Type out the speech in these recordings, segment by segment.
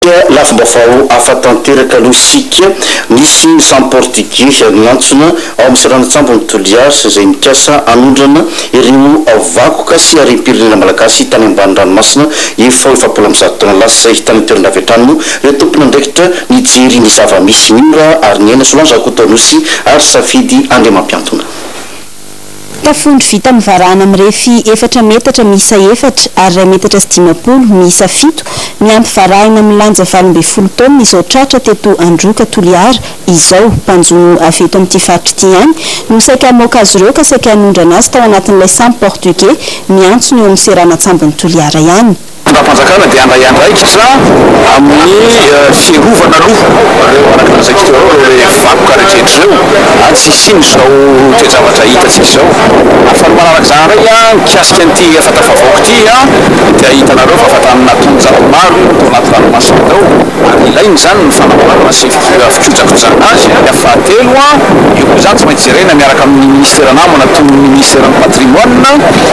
Dia lafim-baovao hafa tanteraka aloha isika. Nisy ny samy Portigey niantsona ao amin'ny seranan-tsambon'i Toliara izay nikasa hanondrana ireo vakoka sy harem-pirenena malagasy tany ambany ranomasina efa ho efapolo amby zato taona lasa izay. Tany an-toerana avy hatrany moa ireo tompon'andraikitra nijery ny zava-misy. Mora ary niaina Solange Rakotoanosy ary Safidy Andriamampiantona. Tafondro vita amin'ny varahana mirefy efatra metatra miisa efatra ary iray metatra sy dimampolo miisa fito, miampy varahina milanja valo ambin'ny folo taonina izao tratra teto Androka, Toliara, izao. Mpanjono avy eto amin'ity faritra ity ihany no saika hamoaka azy ireo ka saika hanondrana azy tao anatin'ilay sambo portugais miantsona eo amin'ny seranan-tsambon'i Toliara ihany. Fitondram-panjakana dia handray andraikitra amin'ny fiarovana aloha ireo anakaran'izay tontolo ireo, ireo ilay vakoka rehetra ireo ary tsy hisian'izao toe-javatra hitantsika izao. Ary fa ny manaraka izany indray mikasika an'ity efa tafavoaka ity dia hitanareo fa efa tamin'ny naha taonjato maro no tao anaty ranomasina tao ary ilaina izany ny fanamboarana sy fikojakojana azy. Ny fahatelo, io koa izany tsy maintsy jerena miaraka amin'ny Ministera namana toy ny Ministeran'ny Patrimoine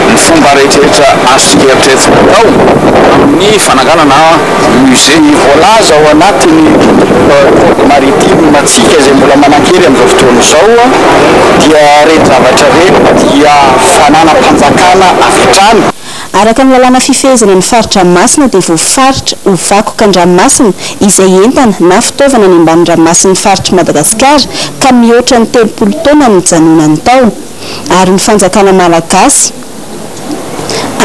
Ny fomba rehetrarehetra azontsika eritreretina atao amin'ny fananganana musée. Ny voalaza ao anatin'ny code maritime antsika izay mbola manan-kery amin'izao fotoana izao dia ireny zavatra ireny dia fananam-panjakana avy hatrany. Araka ny lalàna fifehezana ny faritra masina dia voafaritra ho vakoka an-dranomasina izay entana na fitaovana any ambanin-dranomasin'ny faritr'i Madagasikara ka mihoatra ny telopolo taona nijanonany tao. ary ny fanjakana malagasy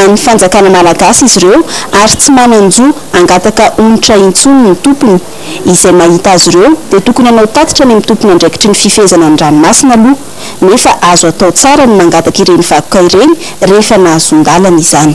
an'ny fanjakana malagasy izy ireo ary tsy manan-jo hangataka onitra intsony ny tompony, izay mahita azy ireo dia tokony hanao tatitra any amin'ny tompon'andraikitry ny fifehezana ny ranomasina aloha nefa azo atao tsara ny mangataka ireny vakoka ireny rehefa nahazoan-dalana izany.